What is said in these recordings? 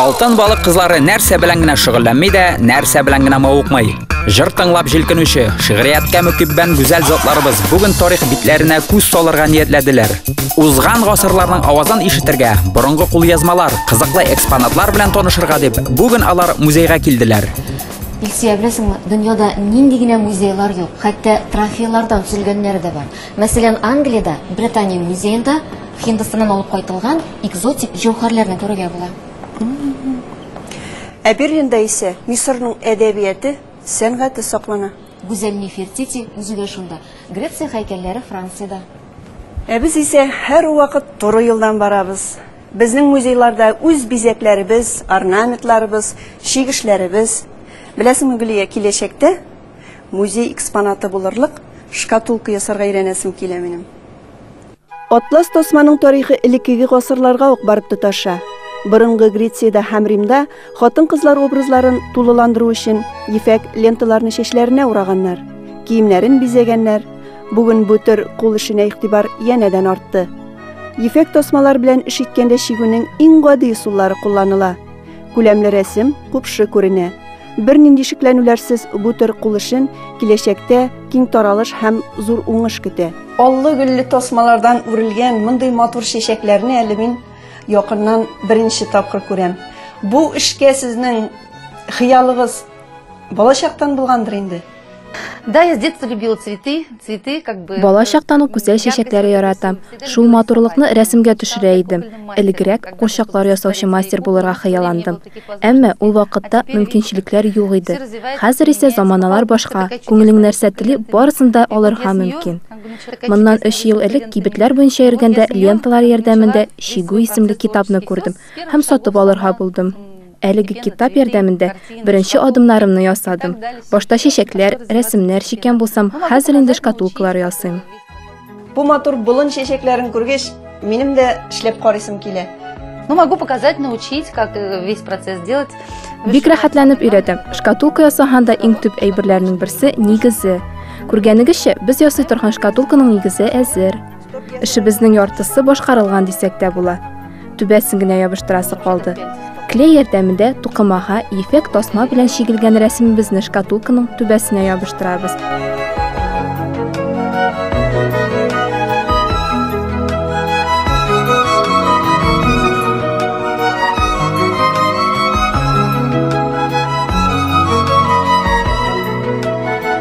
Алтын балык кызлары нәрсә белән генә шөгыльләнми дә, нәрсә белән генә мавыкмый. Җыр тыңлап җилкенүче, шигърияткә мөкиббән гүзәл затларыбыз бүген тарих битләренә күз салырга ниятләделәр. Узган гасырларның авазын ишетергә, борынгы кулъязмалар, кызыклы экспонатлар белән танышырга дип, бүген алар музейга килделәр. Илсөя, беләсеңме, дөньяда нинди генә музейлар юк, хәтта трофейлардан төзелгәннәре дә бар. Мәсәлән, Англиядә, Британия музеенда Һиндстаннан алып кайтылган экзотик җәүһәрләрне күрергә була. Ә Берлинда исә Мисырның әдәбияте, сәнгате саклана. Гүзәл Нефертити үзе дә шунда. Греция һәйкәлләре Франциядә. Ә без исә һәрвакыт туры юлдан барабыз. Безнең музейларда үз бизәкләребез, орнаментларыбыз, чигешләребез. Беләсеңме, Гөлия, киләчәктә Музей экспонаты булырлык шкатулка ясарга өйрәнәсем килә минем. Атлас тасманың тарихы элеккеге гасырларга ук барып тоташа. Борынгы Грециядә һәм Римда хатын-кызлар образларын тулыландыру өчен ефәк ленталарны чәчләренә ураганнар, киемнәрен бизәгәннәр. Бүген бу төр кул эшенә игътибар янәдән артты. Ефәк тасмалар белән эш иткәндә чигүнең иң гади ысуллары кулланыла. Күләмле рәсем купшы күренә. Бернинди шикләнүләрсез бу төр кул эшен киләчәктә киң таралыш һәм зур уңыш көтә. Аллы-гөлле тасмалардан үрелгән мондый матур чәчәкләрне әле мин якыннан беренче тапкыр күрәм. Бу эшкә сезнең хыялыгыз балачактан булгандыр инде? Да, я с детства любила цветы, цветы как бы... Бала чактан ук гүзәл чәчәкләре яратам. Шул матурлыкны рәсемгә төшерә идем. Элегрәк курчаклар ясаучы мастер булырга хыялландым. Әмма ул вакытта мөмкинчелекләр юк иде. Хәзер исә заманалар башка, күңелең нәрсә тели, барысын да алырга мөмкин. Моннан 3 ел элек кибетләр буенча йөргәндә ленталар ярдәмендә Чигү исемле китапны күрдем һәм сатып алырга булдым. Әлеге китап ярдәмендә беренче адымнарымны ясадым. Башта чәчәкләр, рәсемнәр чиккән булсам, хәзер инде шкатулкалар ясыйм. Бу матур болын чәчәкләрен күргәч, минем дә эшләп карыйсым килә. Ну, могу показать, научить, как э, весь процесс делать. Бик рәхәтләнеп өйрәтәм. Шкатулка ясаһаң да иң төп әйберләрнең берсе нигезе. Күргәнегезчә, без ясый торган шкатулканың нигезе әзер. Эшебезнең яртысы башкарылган дисәк тә була. Түбәсен генә ябыштырасы калды. Клей ярдәмендә тукымага ефәк тасма белән чигелгән рәсемебезне шкатулканың түбәсенә ябыштырабыз.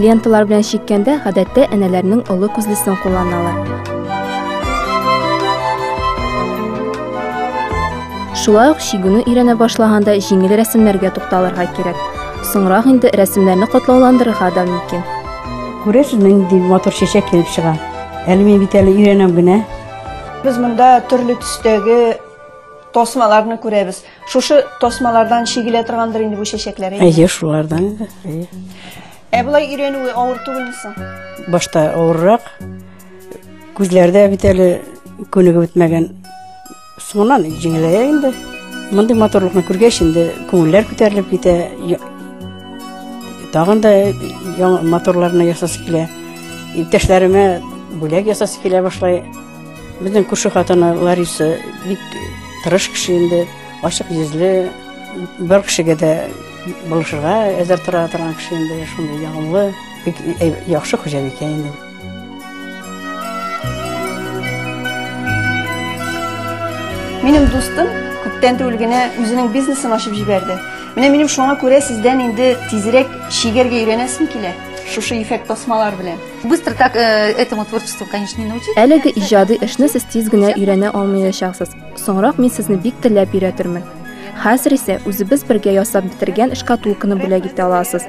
Ленталар белән чиккәндә гадәттә әнәләрнең олы күзлесен кулланалар. Шулай ук чигүне өйрәнә башлаганда җиңел рәсемнәргә тукталырга кирәк. Соңрак инде рәсемнәрне катлауландырырга да мөмкин. Күрәсез, нинди матур чәчәк килеп чыга. Әле мин бит әле өйрәнәм генә. Без монда төрле төстәге тасмаларны күрәбез. Шушы тасмалардан чигелә торгандыр инде бу чәчәкләр. Әйе, шулардан. Әйе. Ә болай өйрәнүе авыр түгелме соң? Башта авыррак. Күзләрдә бит әле күнегеп бетмәгән Соңыннан җиңелә инде. Мондый матурлыкны күргәч, инде күңелләр күтәрелеп китә. Тагын да яңа моторларны ясасы килә. Иптәшләремә бүләк ясасы килә башлай. Безнең күрше хатыны Лариса бик тырыш кеше инде, ачык йөзле, бер кешегә дә булышырга әзер тора торган кеше инде, шундый ягымлы, бик яхшы хуҗабикә инде. Минем дустым күптән түгел генә үзенең бизнесын ачып җибәрде. Менә минем шуңа күрә сездән инде тизрәк чигәргә өйрәнәсем килә. Шушы ефәк тасмалар белән. Быстро так э, этому творчеству, конечно, не научить. Әлеге иҗади эшне сез тиз генә өйрәнә алмаячаксыз. Соңрак мин сезне бик теләп өйрәтермен. Хәзер исә үзебез бергә ясап бетергән шкатулканы бүләк итә аласыз.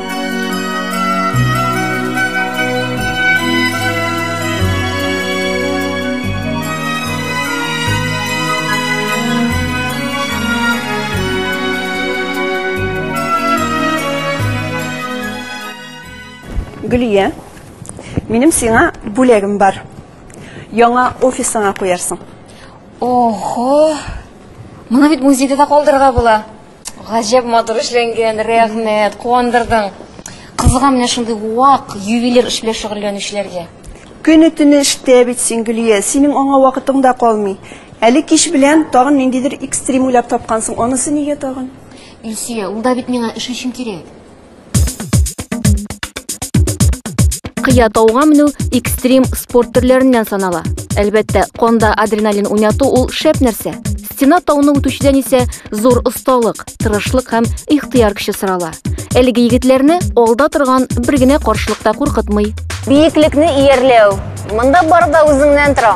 Гөлия, минем сиңа бүләгем бар. Яңа офисыңа куярсың. Ого! Моны бит музейда да калдырырга була. Гаҗәп матур эшләнгән, рәхмәт, куандырдың. Кызыга менә шундый вак ювелир эш белән шөгыльләнүчеләргә. Көне-төне эштә бит син, Гөлия, синең аңа вакытың да калмый. Әле кич белән тагын ниндидер экстрим уйлап тапкансың, анысы нигә тагын? Илсөя, ул да бит миңа эш өчен кирәк. Кыя тауга менү экстрим спорт төрләреннән санала. Әлбәттә, конда адреналин уйнату ул шәп нәрсә. Стена тауны үтүчедән исә зур осталык, тырышлык һәм ихтыяр көче сорала. Әлеге егетләрне алда торган бер генә каршылыкта куркытмый. Биеклекне иярләү. Монда бар да үзеңнән тора.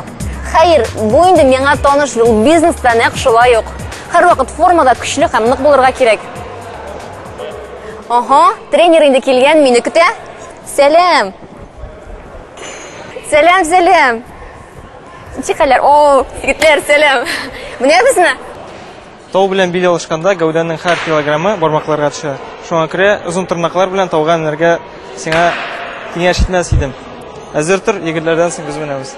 Хәер, бу инде миңа таныш юл бизнеста нәкъ шулай ук. Һәрвакыт формада көчле һәм нык булырга кирәк. Ага, тренер инде килгән, мине көтә. Сәлам. Сәлам, сәлам. Ничек хәлләр? О, егетләр, сәлам. Менә безне. Тау белән бил алышканда гәүдәнең һәр килограммы бармакларга төшә. Шуңа күрә озын тырнаклар белән тауга менәргә сиңа киңәш итмәс идем. Әзер тор, егетләрдән соң без менәбез.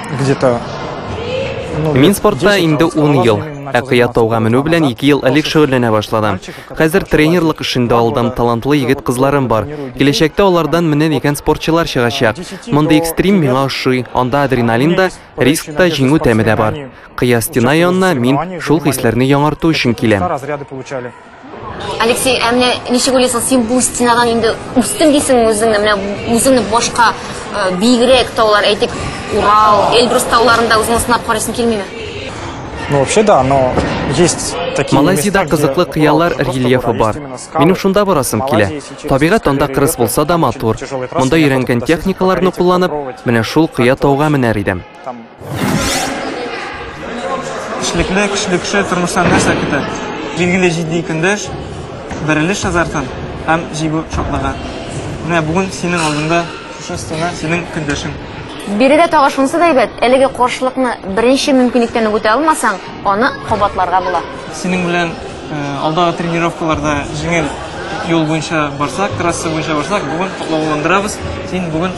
где-то Мин спортта инде 10 ел, ә кыя тауга менү белән 2 ел элек шөгыльләнә башладым. Хәзер тренерлык эшендә алдым, талантлы егет кызларым бар. Киләчәктә алардан менә дигән спортчылар чыгачак. Мондый экстрим миңа ошый. Анда адреналин да, риск та, җиңү тәме дә бар. Кыя стена янына мин шул хисләрне яңарту өчен киләм. Алексей, ә менә ничек уйлыйсың, син бу стенадан инде үстем дисеңме үзеңне? Менә үзеңне башка э, биегрәк таулар, әйтик, Урал, Эльбрус тауларында үзеңне сынап карыйсың килмиме? Ну, вообще, да, но есть такие Малайзияда места, кызыклы где кыялар Урал, просто рельефы Урал, бар. есть именно скалы. Минем шунда барасым килә. Малайзия, если честно, Табигать скорее анда кырыс рельеф, булса да матур. есть тяжелые трассы, Монда неохота өйрәнгән туда сесть техникаларны попробовать. кулланып, менә шул кыя тауга менәр идем. Там. Эшлекле, көчле кеше тормыштан нәрсә көтә? Билгеле җитди көндәш, бәрелеш азартын һәм җиңү шатлыгы. Менә бүген синең алдыңда шушы стена синең көндәшең. Биредә тагы шунысы да әйбәт, әлеге каршылыкны беренче мөмкинлектән үк үтә алмасаң, аны кабатларга була. Синең белән э, алдагы тренировкаларда җиңел юл буенча барсак, трасса буенча барсак, бүген котлауландырабыз. Син бүген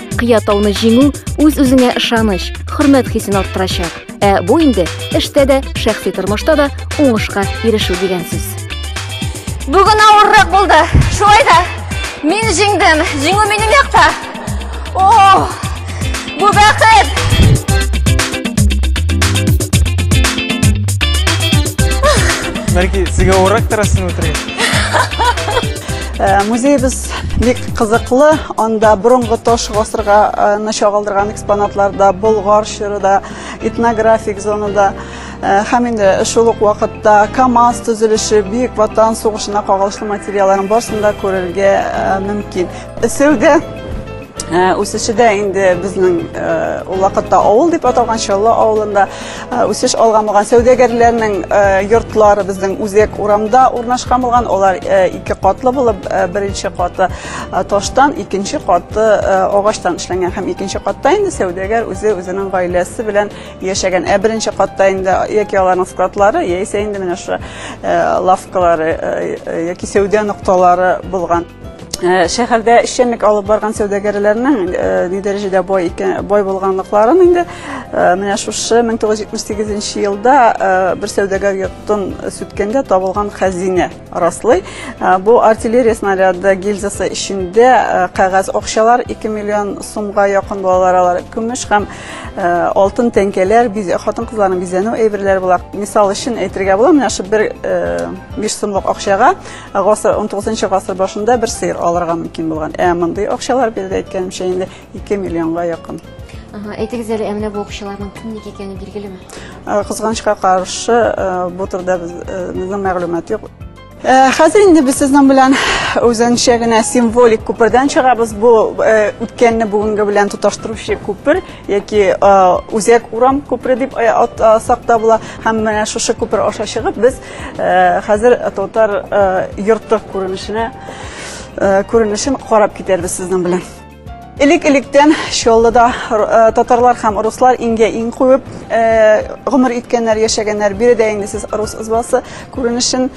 Кыя тауны җиңү үз-үзеңә ышаныч, хөрмәт хисен арттырачак. Ә бу инде эштә дә, шәхси тормышта да уңышка ирешү дигән сүз. Бүген авыррак булды. Шулай да мин җиңдем. Җиңү минем якта. О! Бу бәхет! Нәрки, сиңа урак тарасын үтергән. Э, музейбыз бик кызыклы анда бұрынғы тош ғасырға э, чагылдырган экспонатлар да болгар чоры да этнографик зона да э, һәм инде шул ук вакытта камаз төзелеше бөек ватан сугышына кагылышлы материалларын барысын да күрергә мөмкин сәүдә Үсеше дә инде безнең ул вакытта авыл дип аталган Чаллы авылында үсеш алган булган сәүдәгәрләрнең йортлары безнең үзәк урамда урнашкан булган. Алар ике катлы булып, беренче каты таштан, икенче каты агачтан эшләнгән һәм икенче катта инде сәүдәгәр үзе үзенең гаиләсе белән яшәгән. Ә беренче катта инде яки аларның складлары, яисә инде менә шушы лавкалары яки сәүдә нокталары булган. Э, шәһәрдә эшчәнлек алып барган сәүдәгәрләрнең э, ни дәрәҗәдә бай икән бай булганлыкларын инде э, менә шушы 1978 елда бер сәүдәгәр йортын сүткәндә табылган хәзинә раслый бу артиллерия снаряды гильзасы эчендә кәгазь акчалар 2 миллион сумга якын булалар алар көмеш һәм алтын тәңкәләр хатын кызларның бизәнү әйберләре була мисал өчен әйтергә була менә шул бер биш сумлык акчага Гасыр, 19 гасыр башында бер сыер алырга мөмкин булган. Ә мондый акчалар биредә әйткәнемчә инде 2 миллионга якын. Ага, әйтегез әле, ә менә бу акчаларның кемнеке икәне билгелеме? Ә, Кызганычка каршы, ә, бу турыда без, ә, безнең мәгълүмат юк. Ә, Хәзер инде без сезнең белән үзенчә генә символик күпердән чыгабыз. Бу ә, үткәнне бүгенге белән тоташтыручы күпер яки ә, үзәк урам күпере дип ә, ат- а, сакта була. Һәм менә шушы күпер аша чыгып без Хәзер татар йорты күренешенә күренешен карап китәрбез сезнең белән. Элек-электән Чаллыда татарлар һәм руслар иңгә иң куеп гомер иткәннәр, яшәгәннәр. Биредә инде сез рус избасы күренешен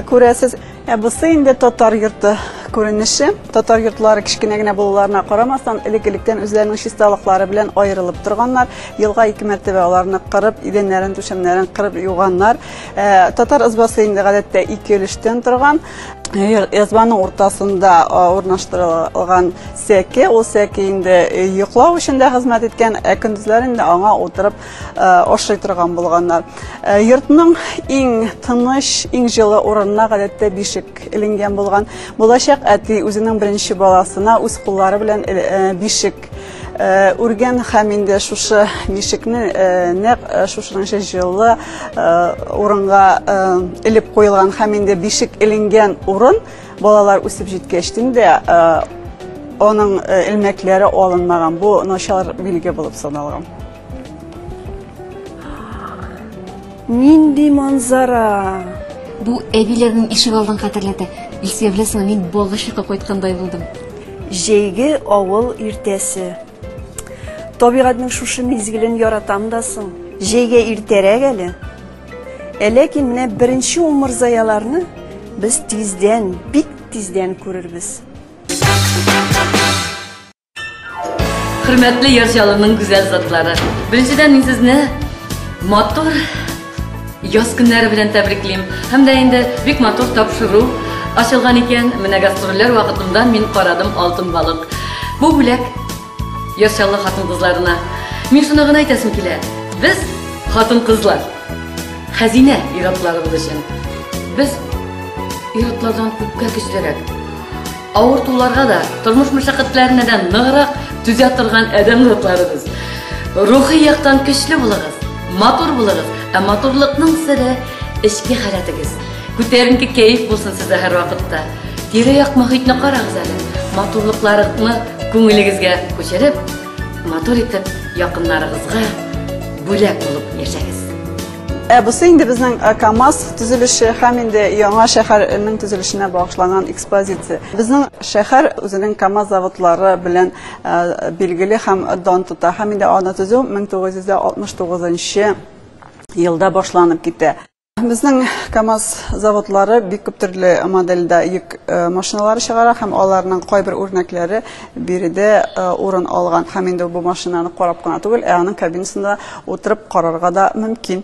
күрәсез. Ә бусы инде татар йорты күренеше. Татар йортлары кечкенә генә булуларына карамастан, элек-электән үзләренең чисталыклары белән аерылып торганнар. Елга ике мәртәбә аларны кырып, идәннәрен, түшәмнәрен кырып юганнар. Ә, татар ызбасы инде гадәттә ике өлештән торган. Язбаның уртасында урнаштырылган сәке, ул сәке инде йоклау өчен дә хезмәт иткән, ә көндезләр инде аңа утырып ашый торган булганнар. Йортның иң тыныч, иң җылы урынына гадәттә бишек эленгән булган. Булачак әти үзенең беренче баласына үз куллары белән бишек үргән һәм инде шушы бишекне нәкъ шушынча җылы урынга элеп куелган һәм инде бишек эленгән урын балалар үсеп җиткәч инде аның элмәкләре алынмаган. Бу начар билге булып саналган. Нинди манзара! Бу әбиләрнең ишек алдын хәтерләтә. Илсөя беләсеңме, мин Балгышыкка кайткандай булдым. Җәйге авыл иртәсе. Табигатьнең шушы мизгелен яратам да соң. Җәйгә иртәрәк әле. Ә ләкин менә беренче умырзаяларны без тиздән, бик тиздән күрербез. Хөрмәтле яр җалының гүзәл затлары. Беренчедән мин сезне матур яз көннәре белән тәбриклим. Һәм дә инде бик матур тапшыру ачылган икән. Менә гастрольләр вакытында мин карадым алтын балык. Бу бүләк яр җалы хатын-кызларына. Мин шуны гына әйтәсем килә. Без хатын-кызлар хәзинә ир-атларыбыз өчен. Без ир-атлардан күпкә көчлерәк. Авыртуларга да, тормыш мәшәкатьләренә дә ныграк түзә торган адәм затларыбыз. Рухи яктан көчле булыгыз, матур булыгыз, ә матурлыкның сире эчке халәтегез. Күтәренке кәеф булсын сездә һәрвакытта. Тирә-як мөхитне карагыз әле. Матурлыкларны күңелегезгә күчереп, матур итеп якыннарыгызга бүләк булып яшәгез. Ә бусы инде безнең э, КАМАЗ төзелеше һәм инде яңа шәһәрнең төзелешенә багышланган экспозиция. Безнең шәһәр үзенең КАМАЗ заводлары белән э, билгеле һәм дан тота. Һәм инде аны төзү 1969 елда башланып китә. Безнең КАМАЗ заводлары бик күп төрле модельдә йөк э, машиналары чыгара һәм аларның кайбер үрнәкләре Биредә урын алган һәм инде бу машинаны карап кына түгел, ә аның кабинасында утырып карарга да мөмкин.